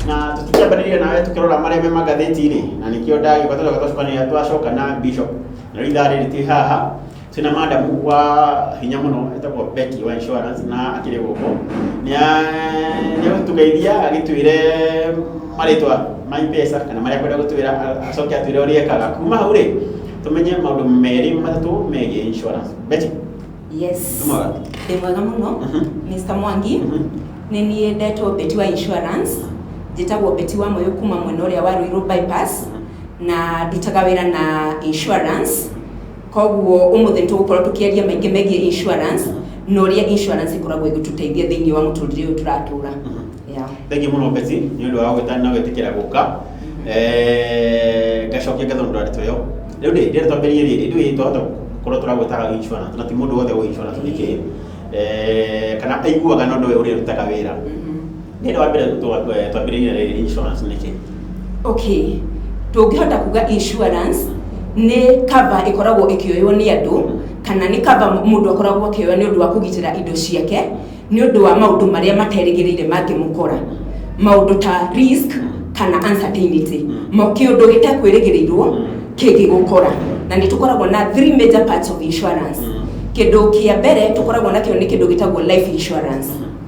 na tũtikiambanĩria nawe tũkĩrora marĩa me magathĩti-inĩ na nĩkĩo ndagĩũka tũcoka twacokanĩrĩra twacoka na bishop na rĩu ithaa rĩrĩ twĩ haha twĩ na madamu wa hinya mũno etagwo Becky wa insurance na akĩrĩ gũkũ nĩagũtũgeithia agĩtwĩre marĩtwa ma mpesa kana marĩa kwenda gũtwĩra acoke atwĩre ũrĩa ekaga kuma hau rĩ tũmenye maũndũ merĩ matatũ megiĩ insurance Betty yes Mwega. ndĩ mwega mũno Mhm. mr mwangi Mhm. nĩ niĩ ndetwo beti wa insurance njĩtagwo beti wa moyo kuma mwena ũrĩa wa ruirũ bypass na ndutaga wĩra na insurance Koguo ũmũthĩ nĩ tũgũkorwo tũkĩaria maingĩ megiĩ insurance na ũrĩa insurance ĩkoragwo ĩgĩtũteithia thĩinĩ wa mũtũrĩre ũyũ tũratũra. Yeah. Thengiũ mũno Beti nĩ ũndũ wa gwĩtana na gwĩtĩkĩra gũka Eh, ngacokia ngatho nĩ ũndũ wa ndeto ĩyo rĩu rĩ rĩrĩa twambĩrĩirie rĩrĩ rĩu ĩ, twahota gũkorwo tũragwĩtaga insurance na ti mũndũ wothe ũĩ insurance nĩ kĩĩ Eh, kana aiguaga no ndoĩ ũrĩa ĩrutaga wĩra nä rä wa mbere twambä rä ire rä insurance nä kä okay tũngĩhota kuga insurance nĩ cover ĩkoragwo ĩkĩoywo nĩ andũ kana nĩ cover mũndũ akoragwo akĩoya nĩ ũndũ wa kũgitĩra indo ciake nĩ ũndũ wa maũndũ marĩa materĩgĩrĩire mangĩmũkora maũndũ ta risk kana uncertainty Ma- kĩũndũ gĩtekwĩrĩgĩrĩirwo kĩngĩgũkora na nĩ tũkoragwo na three major parts of insurance kĩndũ kĩa mbere tũkoragwo nakĩo nĩ kĩndũ gĩtagwo life insurance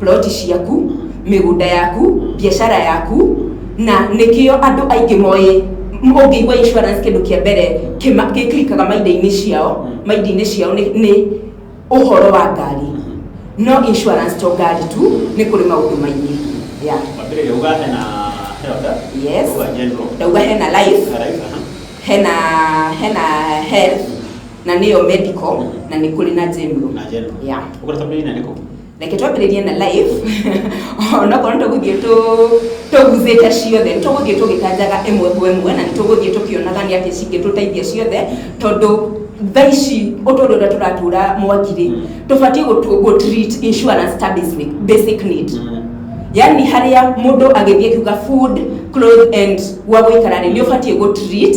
ploti ciaku, mĩgũnda yaku, biacara yaku, na nĩkĩo andũ aingĩ moĩ ũngĩigua insurance kĩndũ kĩa mbere kĩma- gĩklikaga maindainĩ ciao maindainĩ ciao nĩ nĩ ũhoro wa ngari no insurance to ngari tu nĩ kũrĩ maũndũ maingĩ yeah. Wambĩrĩria uga hena health, Yes. uga general, ndauga hena life na life, aha. hena hena health na nĩyo medical na nĩ kũrĩ na general na general. yeah. Ũkũrata mbei na nĩkũ? reke twambĩrĩrie na live onokorwo nĩ tũgũthiĩ tũ- tũguzĩte ciothe nĩ tũgũthiĩ tũgĩtanjaga ĩmwe kwa ĩmwe na nĩ tũgũthiĩ tũkĩonaga nĩ atĩ cingĩtũteithia ciothe tondũ thaa ici ũtũũro ũrĩa tũratũũra mwakirĩ tũbatiĩ gũtu- gũtreat insurance ta basic, basic need yani harĩa mũndũ agĩthiĩ kiuga food clothes and gwa gũikara rĩ nĩ ũbatiĩ gũtreat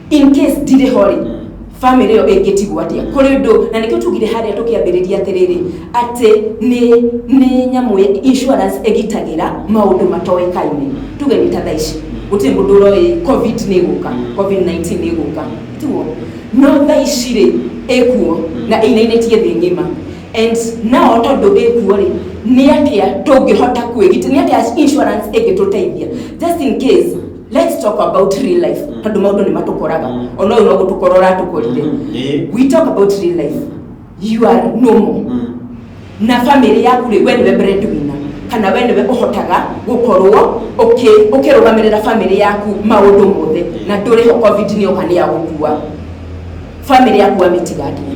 in case ndirĩ ho rĩ family ĩyo ĩngĩtigwo atĩa kũrĩ ũndũ na nĩkĩo tugire harĩa tũkĩambĩrĩria atĩrĩrĩ atĩ nĩ nĩ nyamũ ya- insurance ĩgitagĩra maũndũ matoĩkaine tuge nĩ ta thaa ici gũtirĩ mũndũ ũroĩ covid nĩ ĩgũka covid 19 nĩ ĩgũka tiguo no thaa ici rĩ ĩkuo na ĩinainĩtie thĩ ng'ima and nao tondũ ĩkuo rĩ nĩ atĩa tũngĩhota kwĩgitĩra nĩ atĩa insurance ĩngĩtũteithia just in case let's talk about real life Mm. tondå maå ndå nä matåkoraga Mm. ona å yå no gå tå kora å ratå korire Mm, eh. we talk about real life you are normal Mm. na bamĩrĩ yaku rĩ we nĩwe breadwinner kana we nĩwe ũhotaga gũkorwo ũkĩ- ũkĩrũgamĩrĩra bamĩrĩ yaku maũndũ mothe na ndũrĩ ho covid nĩ oka nĩ ya gũkua bamĩrĩ yaku amĩtiga atĩa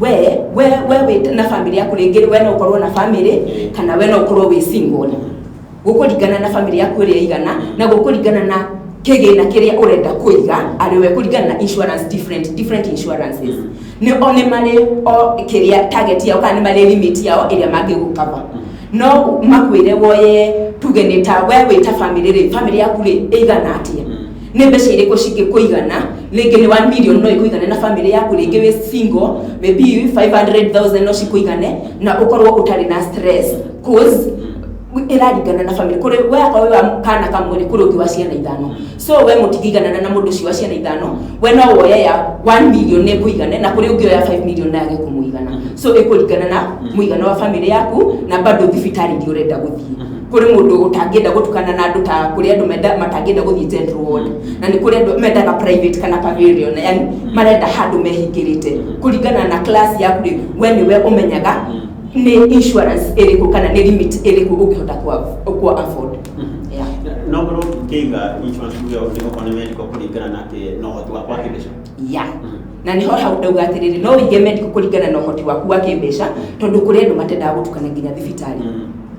we we we wĩ na family yaku rĩngĩ we no ũkorwo na family kana we no ũkorwo wĩ single gũkũringana na family yaku ĩrĩa ĩigana na gũkũringana na kĩgĩna kĩrĩa ũrenda kũiga arĩ we kũringana na insurance different different insurances nĩ o nĩ marĩ o kĩrĩa target yao kana nĩ marĩ limit yao ĩrĩa mangĩgũkava no makwĩre woye tuge nĩ ta we wĩ ta family rĩ family yaku rĩ ĩigana atĩa Nĩ mbeca irĩkũ cingĩkũigana? Rĩngĩ nĩ 1 million no ĩkũigane na family yaku, rĩngĩ wĩ single, maybe 500,000 no cikũigane na ũkorwo ũtarĩ na stress. Coz ĩraringana na family. Kũrĩ we akorwo wĩ wa kana kamwe rĩ, kũrĩ ũngĩ wa ciana ithano. So we mũtingĩiganana na mũndũ ũcio wa ciana ithano, we no woye ya 1 million nĩ ĩkũigane, na kũrĩ ũngĩ oya 5 million na yage kũmũigana. So ĩkũringana na mũigana wa family yaku, na bado thibitarĩ iria ũrenda gũthiĩ. kuri mundu utangienda gutukana na andu ta kuri andu menda matangienda guthii general ward na ni kuri andu mendaga private kana pavilion yani marenda handu mehingirite kuringana na class yaku ri we ni we umenyaga ni insurance iriku kana ni limit iriku ungihota ku ku afford yeah no ngorwo ngĩiga insurance tuge nĩguo kwa nĩ medical kũringana na atĩ no ũhoti wakwa kĩmbeca yeah na niho hau ndauga atiriri no wige medical kuringana na uhoti waku wa kimbeca tondu kuri andu matendaga gutukana nginya thibitarĩ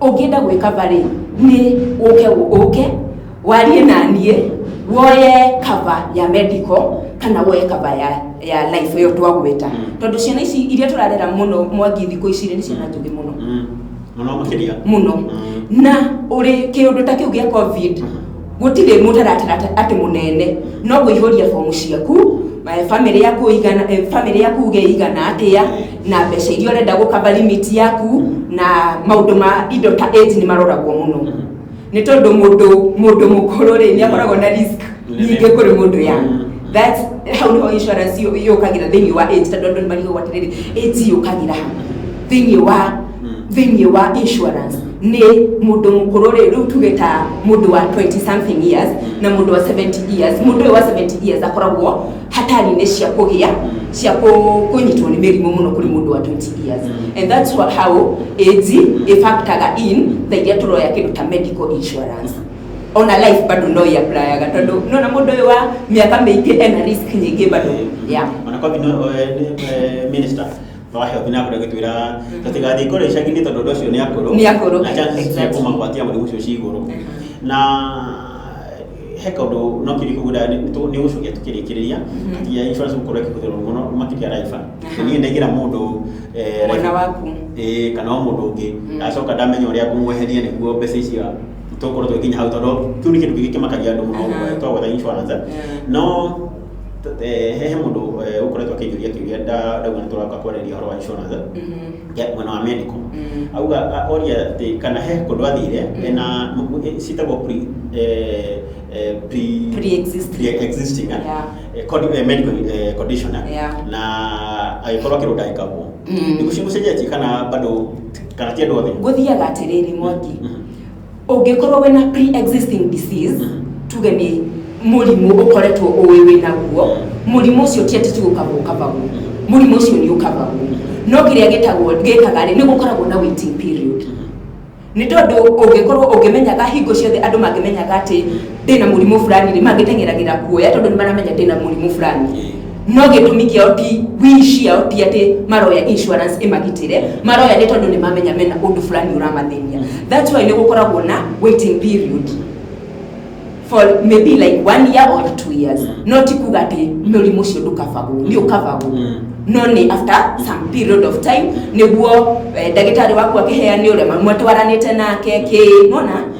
ũngĩenda gwĩkaba rĩ niĩ ũke ũke warie na niĩ woye kaba ya medical kana woye kaba ya ya life ĩyo twagwĩta tondũ ciana ici iria tũrarera mũno mwangi thikũ ici rĩ nĩ ciana njũgĩ mũno mũno makĩria mũno Mm. na ũrĩ kĩũndũ ta kĩu gĩa covid Gũtirĩ mũtaratara atĩ- atĩ mũnene no kũihũria bomu ciaku, eh, family yaku igana, eh, family yaku uge igana atĩa, na mbeca iria ũrenda gũkaba limit yaku, na maũndũ ma indo ta age nĩ maroragwo mũno. Nĩ tondũ mũndũ mũndũ mũkũrũ rĩ, nĩ akoragwo na risk nyingĩ kũrĩ mũndũ young. That's hau nĩho insurance yũ- yũkagĩra thĩinĩ wa age tondũ andũ nĩ marigagwo atĩrĩrĩ, age yũkagĩra ha thĩinĩ wa thĩinĩ wa insurance nĩ mũndũ mũkũrũ rĩ rĩu tuge ta mũndũ wa 20 something years na mũndũ wa 70 years mũndũ ũyũ wa 70 years akoragwo hatari-inĩ cia kũgĩa cia kũ- kũnyitwo nĩ mĩrimũ mũno kũrĩ mũndũ wa 20 years and that's what how age ĩfactaga in tha iria tũroya kĩndũ ta medical insurance ona life bado no iaplayaga tondũ nona mũndũ ũyũ wa mĩaka mĩingĩ ena risk nyingĩ bado yeah. Ona kwa vile eh, ni- eh, minister Wahe ũthi nakũrĩa gĩtwĩra tũtigathiĩ kũrĩa icagi-inĩ tondũ ũndũ ũcio nĩ akũrũ. Nĩ akũrũ, Na chances cia exactly. kũmagwatia mũrimũ ũcio ci igũrũ. Na he kaũndũ no kĩrĩkũ gũda nĩ gũcokia tũkĩrĩkĩrĩria atĩ ya insurance gũkorwo ĩkĩhũthĩrwo mũno makĩria Raiba. Nĩ niĩ ndaigĩra mũndũ eh, Mwana waku. ĩĩ kana o mũndũ ũngĩ ndacoka ndamenya ũrĩa ngũmweheria nĩguo mbeca icio tũkorwo tũgĩkinya hau tondũ kĩu nĩ kĩndũ kĩngĩ kĩmakagia andũ mũno Aha. twagwetha insurance. Yeah. No he mũndũ ũkoretwo akĩnjũria kĩũria ndaigua nĩ tũroka kwarĩria ũhoro wa insurance ya mwena wa medical auga oria atĩ kana he kũndũ athire ena ciĩtagwo pre eh, eh, pre- Pre-existing. pre-existing, eh, Yeah. eh, condi- eh, medical eh, condition eh, Yeah. na agĩkorwo kĩndũ ndagĩkagwo Mm. nĩgũcenjetie kana bado kana ti andũ othe ngũthiaga atĩrĩrĩ mwangi Mhm. Ũngĩkorwo wĩna pre-existing disease, tuge nĩ mũrimũ ũkoretwo ũĩ wĩ naguo, mũrimũ ũcio ti atĩ tu ũkaba ũkabagwo, mũrimũ ũcio nĩ ũkabagwo. No kĩrĩa gĩtagwo gĩkaga rĩ, nĩ gũkoragwo na waiting period. Nĩ tondũ ũngĩkorwo ũngĩmenyaga hingo ciothe andũ mangĩmenyaga atĩ ndĩna mũrimũ fulani rĩ, mangĩteng'eragĩra kuoya tondũ nĩ maramenya ndĩna mũrimũ fulani. no gĩtũmi kĩao ti wish yao ti atĩ maroya insurance ĩmagitĩre maroya nĩ tondũ nĩ mamenya mena ũndũ fulani ũramathĩnia that's why nĩ gũkoragwo na waiting period for maybe like one year or two years no ti kuga atĩ mũrimũ ũcio ndũkabagwo nĩ ũkabagwo Mm. no nĩ after some period of time nĩguo eh, ndagĩtarĩ waku akĩheane ũrĩa mwatwaranĩte nake kĩ mona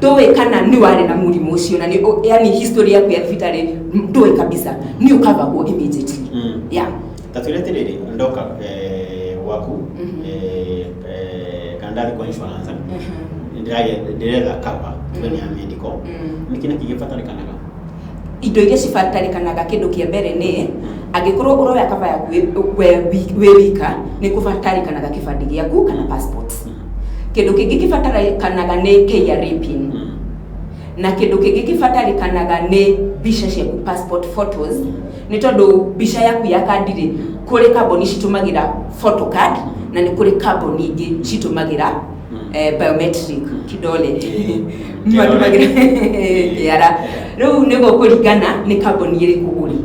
ndũĩ kana nĩ warĩ na mũrimũ ũcio na nĩ ũ- yani history yaku ya thibitarĩ ndũĩ kabisa nĩ ũkavagwo immediately Mm. yeah tatwire tiriri ndoka eh, gwaku Mhm. eh, eh, kana ndathi kwa insurance Mhm. ndĩrage- ndĩretha cover tuge nĩ ya medical Mm. nĩ kĩna kĩgĩbatarĩkanaga indo iria cibatarĩkanaga kĩndũ kĩa mbere nĩ angĩkorwo ũroya kaba yaku wĩ- we wi- wĩ wika nĩ kũbatarĩkanaga kĩbandĩ gĩaku kana passport Mhm. Kĩndũ kĩngĩ kĩbatarĩkanaga nĩ KRA pin. Na kĩndũ kĩngĩ kĩbatarĩkanaga nĩ mbica ciaku passport photos, nĩ tondũ mbica yaku ya kandi rĩ, kũrĩ kambuni citũmagĩra photo card na nĩ kũrĩ kambuni ingĩ citũmagĩra eh, biometric kidole matũmagĩra kĩara rĩu nĩ gũkũringana nĩ kambuni ĩrĩkũ ũrĩ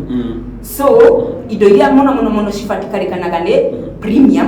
so indo iria mũno mũno mũno cibatikarĩkanaga nĩ premium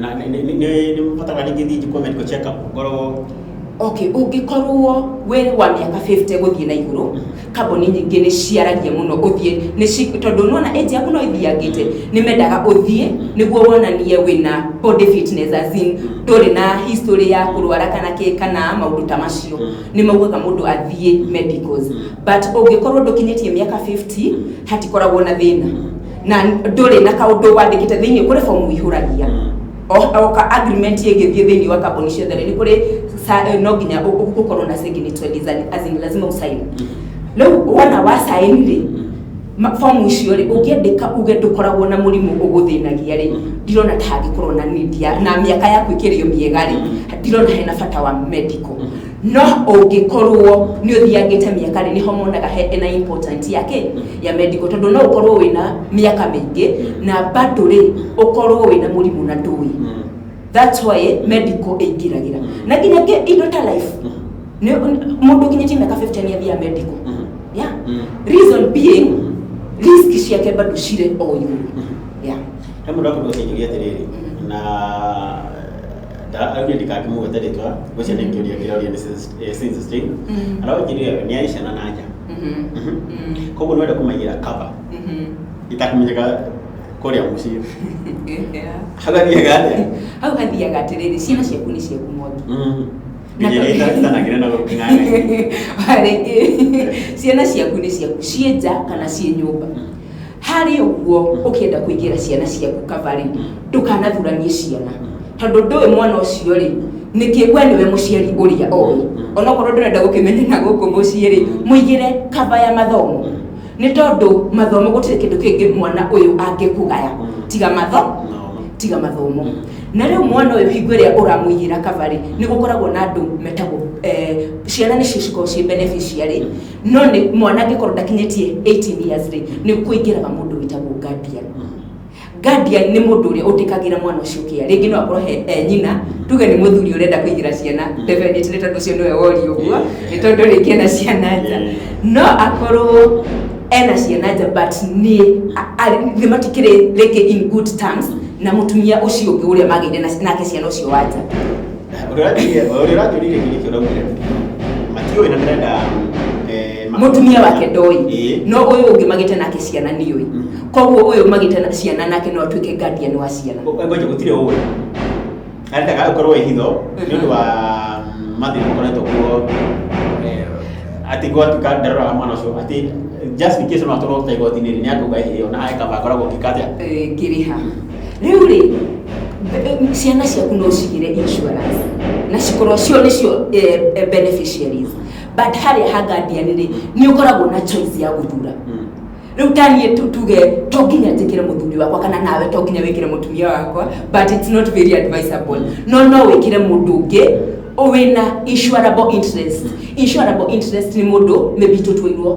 na nĩ- nĩ- nĩ- nĩ- nĩ ũbataraga rĩngĩ thiĩ njĩkwo medical check up ngorwo okay ũngĩkorwo wĩ wa mĩaka 50 gũthiĩ na igũrũ kambuni nyingĩ nĩ ciaragia mũno ũthiĩ nĩ ci- tondũ nona age yaku no ĩthiangĩte nĩ mendaga ũthiĩ nĩguo wonanie wĩna body fitness as in ndũrĩ na history ya kũrwara kana kĩ kana maũndũ ta macio Mm. nĩ maugaga mũndũ athiĩ medicals Mm. but ũngĩkorwo ndũkinyĩtie mĩaka 50 hatikoragwo na thĩna na ndũrĩ na kaũndũ wandĩkĩte thĩinĩ kũrĩ fomu ihũragia oka agreement ĩngĩthiĩ thĩinĩ wa kambuni ciothe rĩ nĩ kũrĩ sa- eh, no nginya ũ- ũ- ũkorwo na signature design, as in lazima usaini rĩu wona wasaini rĩ ma- fomu icio rĩ ũngĩandĩka uge ndũkoragwo na mũrimũ ũgũthĩnagia rĩ ndirona ta hangĩkorwo na need ya na mĩaka yaku ĩkĩrĩo mĩega rĩ ndirona hena bata wa medical No ũngĩkorwo nĩ ũthiangĩte mĩaka rĩ, nĩho monaga he ena important ya kĩ? Ya medical. Tondũ no ũkorwo wĩna mĩaka mĩingĩ na bado rĩ, ũkorwo wĩna mũrimũ na ndũĩ. That's why medical ĩingĩragĩra. Na nginya kĩ- indo ta life. Nĩ- Mũndũ ũkinyĩtie mĩaka 50 nĩ athiaga medical. Yeah. Reason being, risk ciake bado cirĩ o igũrũ. Yeah. He mũndũ akoretwo akĩnjũria atĩrĩrĩ, na ndaugire ndikakĩmũgwete rĩtwa ũcio nĩ kĩũria kĩroria nĩ Sis- eh, Sis Stein. Mhm. araũnjĩrire we nĩ arĩ ciana na nja Mhm. Mhm. Mhm. koguo nĩwenda kũmaigĩra kaba Mhm. itakũmenyeka kũrĩa mũciĩ Yeah. hau athiaga atĩa hau hathiaga atĩrĩrĩ ciana ciaku nĩ ciaku mwangi Na- nginyĩrĩtanagĩra na gũking'ang'a rĩngĩ ciana ciaku nĩ ciaku ciĩ nja kana ciĩ nyũmba Harĩ ũguo, ũkĩenda kũigĩra ciana ciaku kava-rĩ, ndũkanathuranie ciana. Tondũ ndũĩ mwana ũcio-rĩ, nĩkĩ we nĩwe mũciari ũrĩa oĩ. Onokorwo ndũrenda gũkĩmenyeka gũkũ mũciĩ-rĩ, mũigĩre kava ya mathomo. Nĩ tondũ mathomo gũtirĩ kĩndũ kĩngĩ mwana ũyũ angĩkũgaya tiga matho tiga mathomo. Na rĩu mwana ũyũ hingo ĩrĩa ũramũigĩra kava-rĩ, nĩ gũkoragwo na andũ metagwo, ciana nĩcio cikoragwo ciĩ beneficiary. no nĩ mwanake korwo ndakinyĩtie 18 years rĩ nĩ kũingĩraga mũndũ wĩtagwo guardian guardian nĩ mũndũ ũrĩa ũtĩkagĩra mwana ũcio kĩa rĩngĩ no akorwo he e nyina tuge nĩ mũthuri ũrenda kũigĩra ciana definitely nĩ tondũ ũcio nĩwe wori ũguo nĩ tondũ rĩngĩ ena ciana nja no akorwo ena ciana nja but nĩ a- a- nĩ matikĩrĩ rĩngĩ in good terms na mũtumia ũcio ũngĩ ũrĩa magĩire na- nake ciana ũcio wanja Ũrĩa ũrathiĩ- ũrĩa ũrathiũrire gĩkĩ kĩo ũraugire matiũĩ na ndĩrenda eh, ma- mutumia wake ndoi Ĩĩ. no ũyũ ũngĩ magĩte nake ciana niũĩ Mm. koguo ũyũ magĩte na ciana nake no atuĩke guardian wa ciana ngoja gũtirĩ ũĩ arendaga ũkorwo ĩ hitho nĩ ũndũ wa mathĩna makoretwo kuo eh, atĩ gwatuka ndaroraga mwana ũcio atĩ just in case no atwarwo ta igoti-inĩ nĩ akauga ĩhĩo na ekaba akoragwo ngĩka atĩa Eh, ngĩrĩha rĩu rĩ ciana ciaku no cigĩre insurance na cikorwo cio nĩcio eh, eh, beneficiaries but harĩa ha guardian rĩ nĩ ũkoragwo na choice ya gũthura rĩu taniĩ tu- tuge to nginya njĩkĩre mũthuri wakwa kana nawe to nginya wĩkĩre mũtumia wakwa but it's not very advisable no no wĩkĩre mũndũ ũngĩ wĩna insurable interest insurable interest nĩ mũndũ maybe tũtwairwo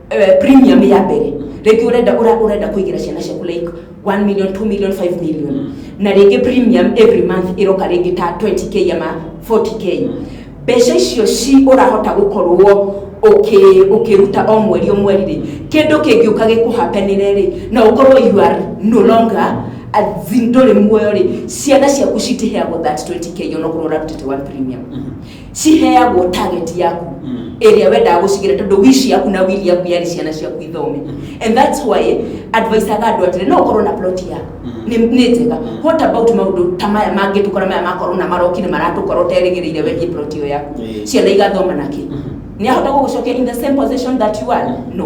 eh, premium ya mbere rĩngĩ ũrenda ũra- ũrenda kũigĩra ciana ciaku like 1 million 2 million 5 million na rĩngĩ premium every month ĩroka rĩngĩ ta 20k ama 40k mbeca icio ci ũrahota gũkorwo ũkĩ- ũkĩruta o mweri o mweri rĩ kĩndũ kĩngĩũka gĩkũhapenĩre rĩ na ũkorwo you are no longer ndũrĩ muoyo rĩ ciana ciaku citiheagwo that 20k onokorwo ũrarutĩte one premium ciheagwo target yaku Mm. ĩrĩa wendaga gũcigĩra tondũ wish yaku na will yaku yarĩ ciana ciaku ithome and that's why advisaga andũ atĩrĩ no ũkorwo na plot yaku Mm. nĩ nĩ njega what about maũndũ ta maya mangĩtũkora maya makorwo na marokire maratũkora ũterĩgĩrĩire wengie plot ĩyo yaku Mm. ciana igathoma nakĩ nĩ ahota gũgũcokia in the same position that you are no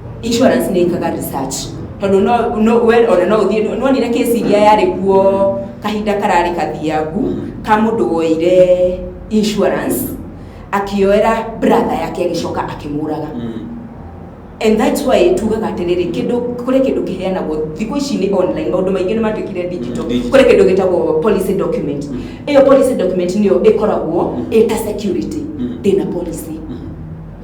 insurance nä ikaga research tondå no- no- we ona no å thiä nonire kesi iria yarä kuo kahinda kararä kathiangu ka må ndå woire insurance akioera brother yake agä coka akä må raga Mm. and that's why tugaga atiriri kindu kuri kindu kiheanagwo thiku ici ni online maundu maingi ni matuikire digital Digital. kuri kindu gitagwo policy document Mm. iyo policy document niyo ikoragwo ita security Mm. ndina policy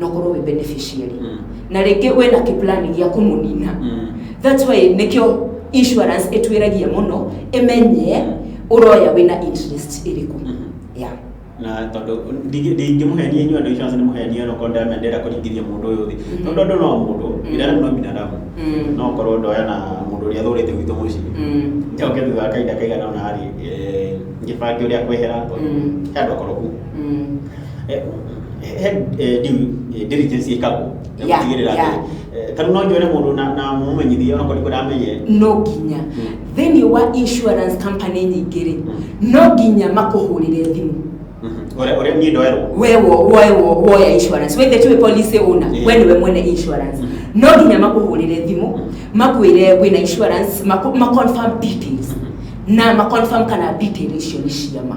no korwo wĩ beneficiary Mm. na rĩngĩ wĩ na kĩplani gĩa kũmũnina Mm. that's why nĩkĩo insurance ĩtwĩragia mũno ĩmenye ũroya wĩ na interest ĩrĩkũ Mhm. yeah. na tondå ndingämũhenia inyuä andå icio nä mũhenia no korwo ndĩramenya ndĩrenda kũringithia mũndũ ũyå thĩ Mm. tondå andå no mũndũ Mm. binadamu no binadamu Mm. no korwo ndoya na mũndũ ũrĩa thå rä te gwitå må ciä Mm. njoke thutha wa kahinda kaigana ona rä ngä bange å rä a kwehera Mm. he andå akoroku Mm. no nginya thĩinĩ wa insurance company nyingĩ rĩ no nginya makũhũrĩre thimũ we wo- woe wo- woya insurance wethe tiwe policy owner Yeah. we niwe mwene insurance no nginya makũhũrĩre thimũ makwĩre wĩna insurance maku- maconfirm details na maconfirm kana detail icio nĩ ciama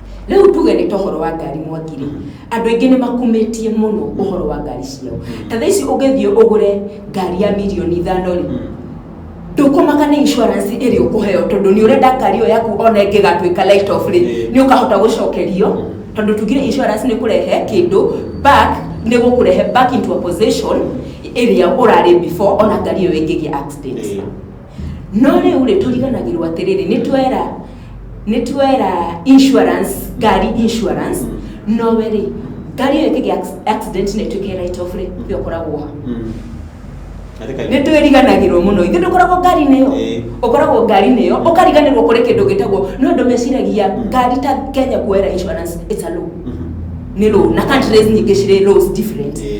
rĩu tuge nĩ tohoro wa ngari mwakire andå aingä nä makumĩtie mũno ũhoro wa ngari ciao ta thaa ici ũngĩthiĩ ũgũre ngari ya mirioni ithano rĩ ndũkũmaka nĩ insurance ĩrĩ ũkũheo tondũ nĩ ũrenda ngari ĩyo yaku ona ĩngĩgatuĩka light off rĩ nĩ ũkahota gũcokerio tondũ tugire insurance nĩ kũrehe kĩndũ back nĩ gũkũrehe back into a position ĩrĩa ũrarĩ before ona ngari ĩyo ĩngĩgĩa accident No rĩu-rĩ, tũriganagĩrwo atĩrĩrĩ, nĩ twera nĩ twera insurance, ngari insurance, no we-rĩ, ngari ĩyo ĩkĩgĩa acc- accident na ĩtuĩke right off rĩ, we ũkoragwo ha? nĩ twĩriganagĩrwo mũno ithuĩ ndũkoragwo ngari-inĩ ĩyo Ĩĩ. ũkoragwo ngari-inĩ ĩyo ũkariganĩrwo kũrĩ kĩndũ gĩtagwo nĩ ũndũ meciragia ngari ta kenya kuoera insurance it's a law nĩ law na countries nyingĩ cirĩ laws different Ĩĩ.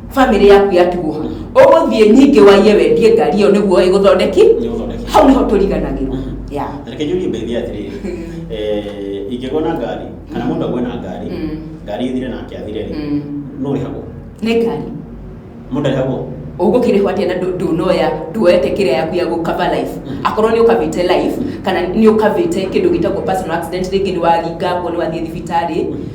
family yaku yatigwo ũgũthiĩ nyingĩ waiye wendie ngari ĩyo nĩguo ĩgũthondeki Nĩgũthondeki. hau nĩho tũriganagĩrwo ya reke njũrie mbeithia atĩrĩrĩ eh, ingĩgwo na ngari kana mũndũ agwe na ngari Mm. ngari ĩthire nake athire rĩ Mm. no ũrĩhagwo nĩ ngari mũndũ arĩhagwo ũgũkĩrĩhwo atĩa na ndũ- ndũnoya ndwoete kĩrĩa yaku ya gũkava life Mm. akorwo nĩ ũkavĩte life kana nĩ ũkavĩte kĩndũ gĩtagwo personal accident rĩngĩ nĩ waringa nguo nĩ wathiĩ thibitarĩ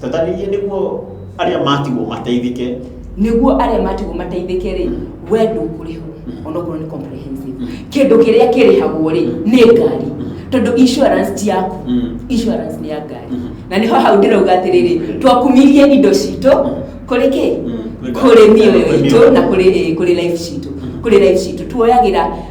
Tatanĩrie nĩguo arĩa matigwo mateithĩke. Nĩguo arĩa matigwo mateithĩke rĩ, we ndũkũrĩhwo onokorwo nĩ comprehensive. Mm. Kĩndũ kĩrĩa kĩrĩhagwo rĩ, mm. nĩ ngari. Mm. Tondũ insurance ti yaku. Insurance nĩ ya ngari. Na nĩho hau ndĩrauga atĩrĩrĩ, twakumirie indo citũ kũrĩ kĩ? Kũrĩ mĩoyo itũ na kũrĩ eh, kũrĩ life citũ. Kũrĩ life citũ. Tuoyagĩra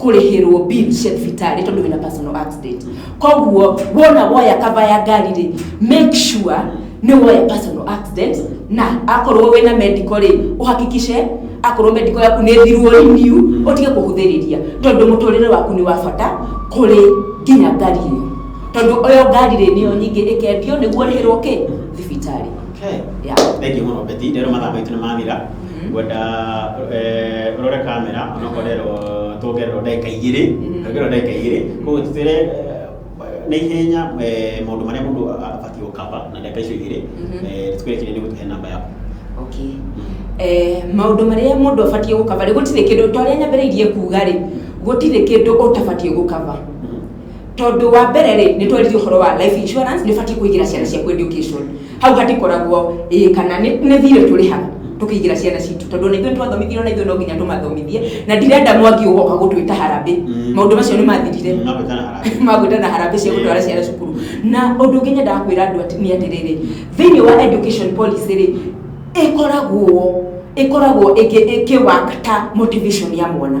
kũrĩhĩrwo bill cia thibitarĩ tondũ wĩna personal accident koguo wona woya kava ya ngari rĩ make sure nĩ woya personal accident na akorwo wĩna medical rĩ ũhakikice akorwo medical yaku nĩ thirwo renew ũtige kũhũthĩrĩria tondũ mũtũrĩre waku nĩ wa bata kũrĩ nginya ngari ĩyo tondũ ĩyo ngari rĩ nĩyo nyingĩ ĩkendio nĩguo rĩhĩrwo kĩ thibitarĩ Okay. Yeah. Thank you mũno Betty. Rero mathaa maitũ nĩ mathira. ngwenda eh, ũrore kamera onokorerwo tuongererwo ndagĩka igĩrĩ tuongererwo ndagĩka igĩrĩ koguo tũtwĩre eh, na ihenya eh, maũndũ marĩa mũndũ abatiĩ gũkaba na ndagĩka icio igĩrĩ Mhm. eh, tũkwĩre kĩrĩa nĩ gũtũhe namba yaku okay eh, maũndũ marĩa mũndũ abatiĩ gũkaba rĩ gũtirĩ kĩndũ ta ũrĩa nyambĩrĩirie kuga rĩ gũtirĩ kĩndũ ũtabatiĩ gũkaba Tondũ wa mbere rĩ, nĩ twarĩtie ũhoro wa life insurance, nĩ batiĩ kũigĩra ciana ciaku education. Hau hatikoragwo ĩĩ kana nĩ nĩ thirĩ tũrĩhaga tũkĩigĩra ciana citũ tondũ ona ithuĩ nĩ twathomithirio na ithuĩ no nginya tũmathomithie na ndirenda mwangi ũgoka gũtwĩta harambĩ Mm. maũndũ macio nĩ mathirire Mm, magwĩtana harambĩ. magwĩtana harambĩ cia gũtwara ciana cukuru na ũndũ ũngĩ nyendaga kwĩra andũ ati- nĩ atĩrĩrĩ thĩinĩ wa education policy rĩ ĩkoragwo ĩkoragwo ĩkĩ- ĩkĩwakata motivation ya mwana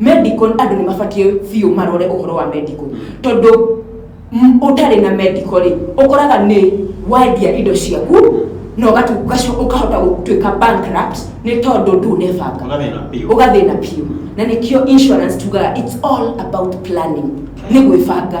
Medical andũ nĩ mabatiĩ biũ marore ũhoro wa medical tondũ m- ũtarĩ na medical rĩ ũkoraga nĩ wendia indo ciaku na ũgatu- ũgacoka ũkahota gũtuĩka bankrupt nĩ tondũ ndũnebanga Ũgathĩna biũ. ũgathĩna biũ na nĩkĩo insurance tugaga it's all about planning nĩ gwĩbanga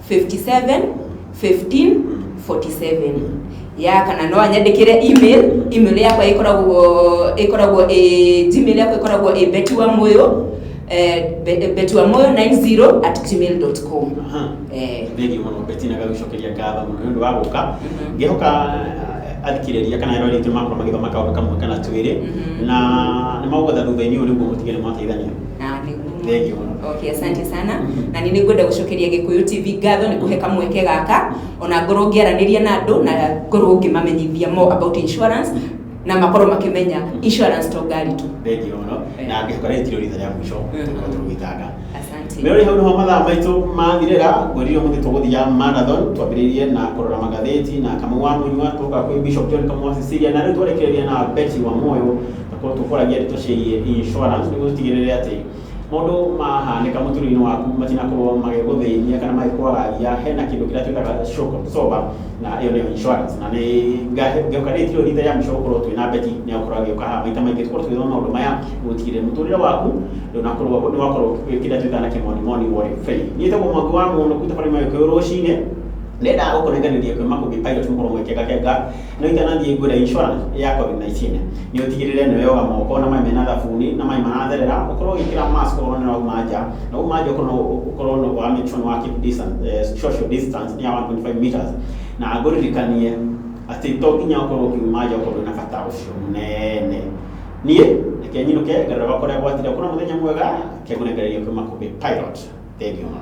57 15 47 ya kana no anyandikire email email yakwa ikoragwo ikoragwo ĩ gmail yakwa ikoragwo ĩ beti wa moyo eh, be- beti wa moyo 90 at gmail.com Aha. eh, thĩinĩ mũno betina gagũcokeria ngatho mũno nĩ ũndũ wa gũka Mhm. ngĩhoka athikĩrĩria kana arĩa rĩngĩ makwa magĩthoma kaũndũ kamwe kana twĩrĩ Mhm. na nĩ magũgũtha thutha-inĩ ũyũ nĩguo mũtige nĩ mwateithania na nĩ Thank you. okay asante sana na nĩ nĩngwenda gũcokeria gĩkũyũ tv ngatho nĩ kũhe kamweke gaka ona ngorwo ngĩaranĩria na andũ na ngorwo ngĩmamenyithia more about insurance na makorwo makĩmenya insurance to ngari tu Thank you mũno. Eh. Na ngĩcoka rĩngĩ tiro ritha rĩa mũico Mm. tũkorwo tũgĩtanga. asante Rĩu rĩ hau nĩho mathaa maitũ mathirĩra, ngwĩrire mũthĩ tũgũthiga marathon, twambĩrĩirie na kũrora magathĩti na kamũa mũnyua tũka kwĩ Bishop John Kamũa Cecilia na rĩu twarĩkĩrĩria na Betty wa Moyo Tũkorwo tũkũragia ndeto ciĩgiĩ insurance nĩguo tũtigĩrĩre atĩ maũndũ mahanĩka mũtũrĩre-inĩ waku matinakorwo magĩgũthĩnia kana magĩkwagagia. Hena kĩndũ kĩrĩa twĩtaga shock absorber na ĩyo nĩyo insurance. Na nĩ ngĩũka rĩngĩ ti rĩo rita rĩa mũico gũkorwo twĩ na Betty, nĩ egũkorwo agĩũka haha maita maingĩ tũkorwo tũgĩthoma maũndũ maya nĩguo gũtigĩrĩra mũtũrĩre waku ndũnakorwo nĩ wakorwo wĩ kĩrĩa twĩtaga na kĩmonimoni worry free. Niĩ njĩtagwo Mwangi wa Mũnũkũ, tũkorwo nĩ mũndũ ũyũ kĩũrũcinĩ, nĩ ndendaga gũkũnengereria kwĩ Makũmbĩ Pilot mũkorwo mũgĩkengakenga. No itanathiĩ ngwĩre insurance ya COVID-19. Nĩ ũtigĩrĩre nĩ weyoga moko na maĩ mena thabuni na maĩ maratherera, ũkorwo ũgĩkĩra mask okorwo nĩ ũrauma nja, na wauma nja ũkorwo nĩ wa make sure nĩ wa keep distance, social distance ya one point five metres. Na ngũririkanie atĩ to nginya ũkorwo ũkiuma nja okorwo ndwĩna bata ũcio mũnene. Niĩ reke nyinũke ngarore gwakwa ũrĩa gwathiire. Ũkorwo na mũthenya mwega, reke ngũnengererie kwĩ Makũmbĩ Pilot. Thengiũ mũno.